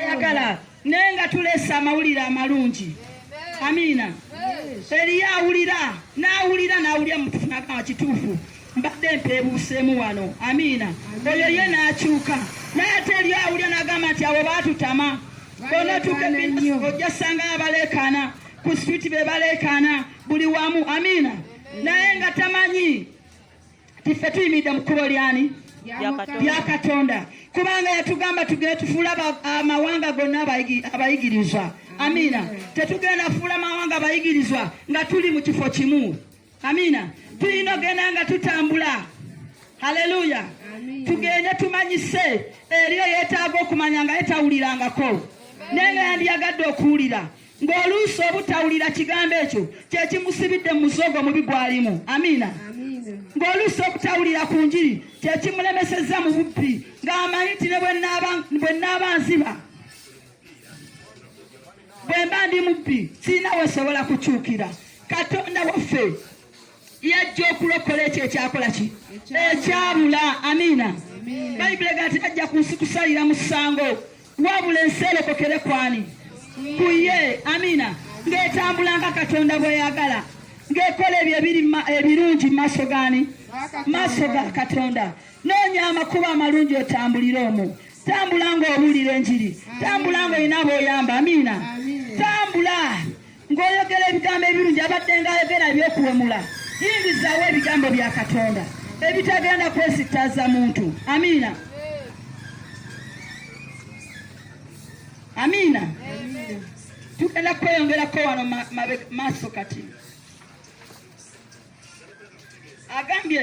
ayagala naye nga tulese amawulire amalungi amiina eriyo awulira n'awulira n'awulira mutufunaka wa kituufu mbadde mpeebuuseemu wano amiina oyo ye n'akyuka naye ate eriyo awulira n'agamba nti abo baatutama bonotuke ojja sanga abaleekaana ku switi be baleekaana buli wamu amiina naye nga tamanyi Tiffe tuyimiridde mu kkubo lyani? Lya Katonda, kubanga yatugamba tugende tufuule amawanga gonna abayigirizwa. Amiina. Tetugenda fuula mawanga abayigirizwa nga tuli mu kifo kimu. Amiina. Tulina ogenda nga tutambula. Haleluya. Tugende tumanyise eriyo yeetaaga okumanya nga yetawulirangako naye nga yandiyagadde okuwulira ng'oluusi obutawulira kigambo ekyo kye kimusibidde mu muzogo mubi gwalimu amiina ng'oluusi obutawulira ku njiri kye kimulemesezza mu bubbi ng'amanyi nti ne bwe nnaaba nziba bwe mba ndi mubbi sirina wesobola kukyukira katonda waffe yajja okulokola ekyo ekyakola ki ekyabula amiina bayibuli ega nti tajja ku nsi kusalira musango wabula ensi erokokere kwani ku ye amiina ng'etambula nga katonda bweyagala ng'ekola ebyo ebirungi mu maaso gani maaso ga katonda noonya amakubo amalungi otambulire omu tambula ng'owulira enjiri tambula ng'olina b'oyamba amiina tambula ng'oyogera ebigambo ebirungi abadde ng'ayogera eby'okuwemula yingizaawo ebigambo bya katonda ebitagenda kwesittaza muntu amiina amiina tugenda kweyongerako wano maaso kati agambye